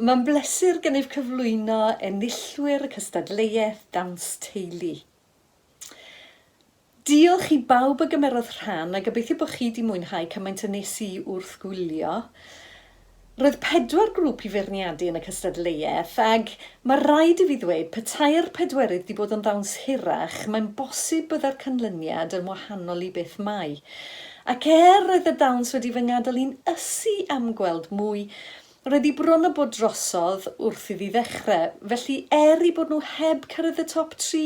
Mae'n bleser gennyf cyflwyno enillwyr y cystadleuaeth Dawns Teulu. Diolch i bawb a gymerodd rhan a gobeithio bod chi 'di mwynhau cymaint a nes i wrth gwylio. Roedd pedwar grŵp i feirniadu yn y cystadleuaeth ag mae raid i fi ddweud petai'r pedwerydd 'di bod yn ddawns hirach mae'n bosib bydde'r canlyniad yn wahanol i beth mae. Ac er roedd y dawns wedi fy ngadael i'n ysu am gweld mwy, roedd hi bron a bod drosodd wrth iddi ddechrau, felly er 'u bod nhw heb cyrraedd y top tri,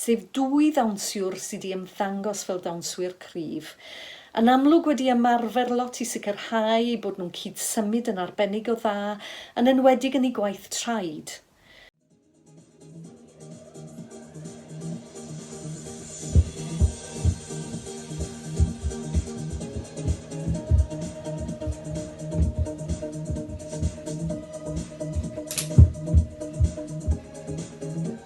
sef dwy ddawnsiwr sy 'di ymddangos fel dawnswyr cryf, yn amlwg wedi ymarfer lot i sicrhau eu bod nhw'n cyd-symud yn arbennig o dda, yn enwedig yn eu gwaith traed.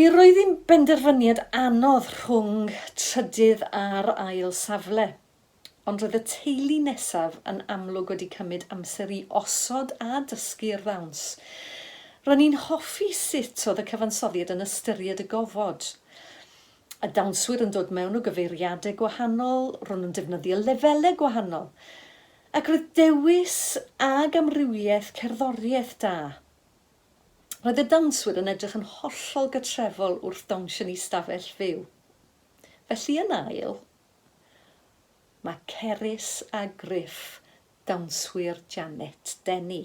Mi roedd hi'n benderfyniad anodd rhwng trydydd a'r ail safle, ond roedd y teulu nesaf yn amlwg wedi cymryd amser i osod a dysgu'r ddawns. Ro'n i'n hoffi sut oedd y cyfansoddiad yn ystyried y gofod. y dawnswyr yn dod mewn o gyfeiriadau gwahanol, ro'n nhw'n defnyddio lefelau gwahanol, ac roedd dewis ag amrywiaeth cerddoriaeth da. Roedd y dawnswyr yn edrych yn hollol gytrefol wrth dawnsio yn eu stafell fyw. Felly yn ail, mae Cerys a Griff, dawnswyr Janet Denny.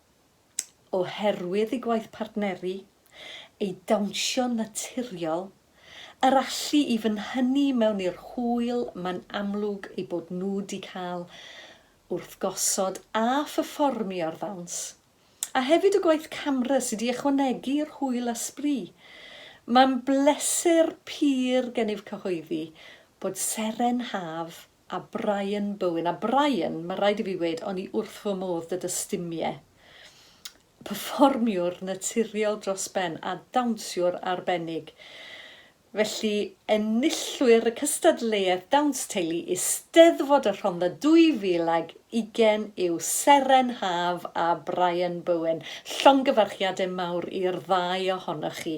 oherwydd ei gwaith partneri, ei dawnsio'n naturiol, yr allu i fynhynnu mewn i'r hwyl mae'n amlwg eu bod nhw 'di cael wrth gosod a pherfformio ar ddawns, a hefyd y gwaith camera sy 'di ychwanegu i'r hwyl a sbri. Mae'n bleser pur gennyf cyhoeddi bod Seren Haf A Brian Bowen. A Brian, mae rhaid i fi weud, o'n i wrth fy modd 'da dy stumie. Perfformiwr naturiol dros ben a dawnsiwr arbennig. Felly, enillwyr y cystadleuaeth Dawns Teulu Eisteddfod y Rhondda 2020 yw Seren Haf a Brian Bowen. Llongyfarchiadau mawr i'r ddau ohonoch chi.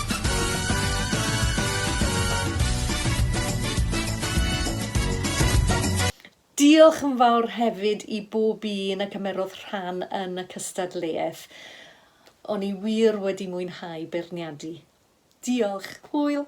Diolch yn fawr hefyd i bob un a gymerodd rhan yn y cystadleuaeth. O'n i wir wedi mwynhau beirniadu. Diolch. Hwyl!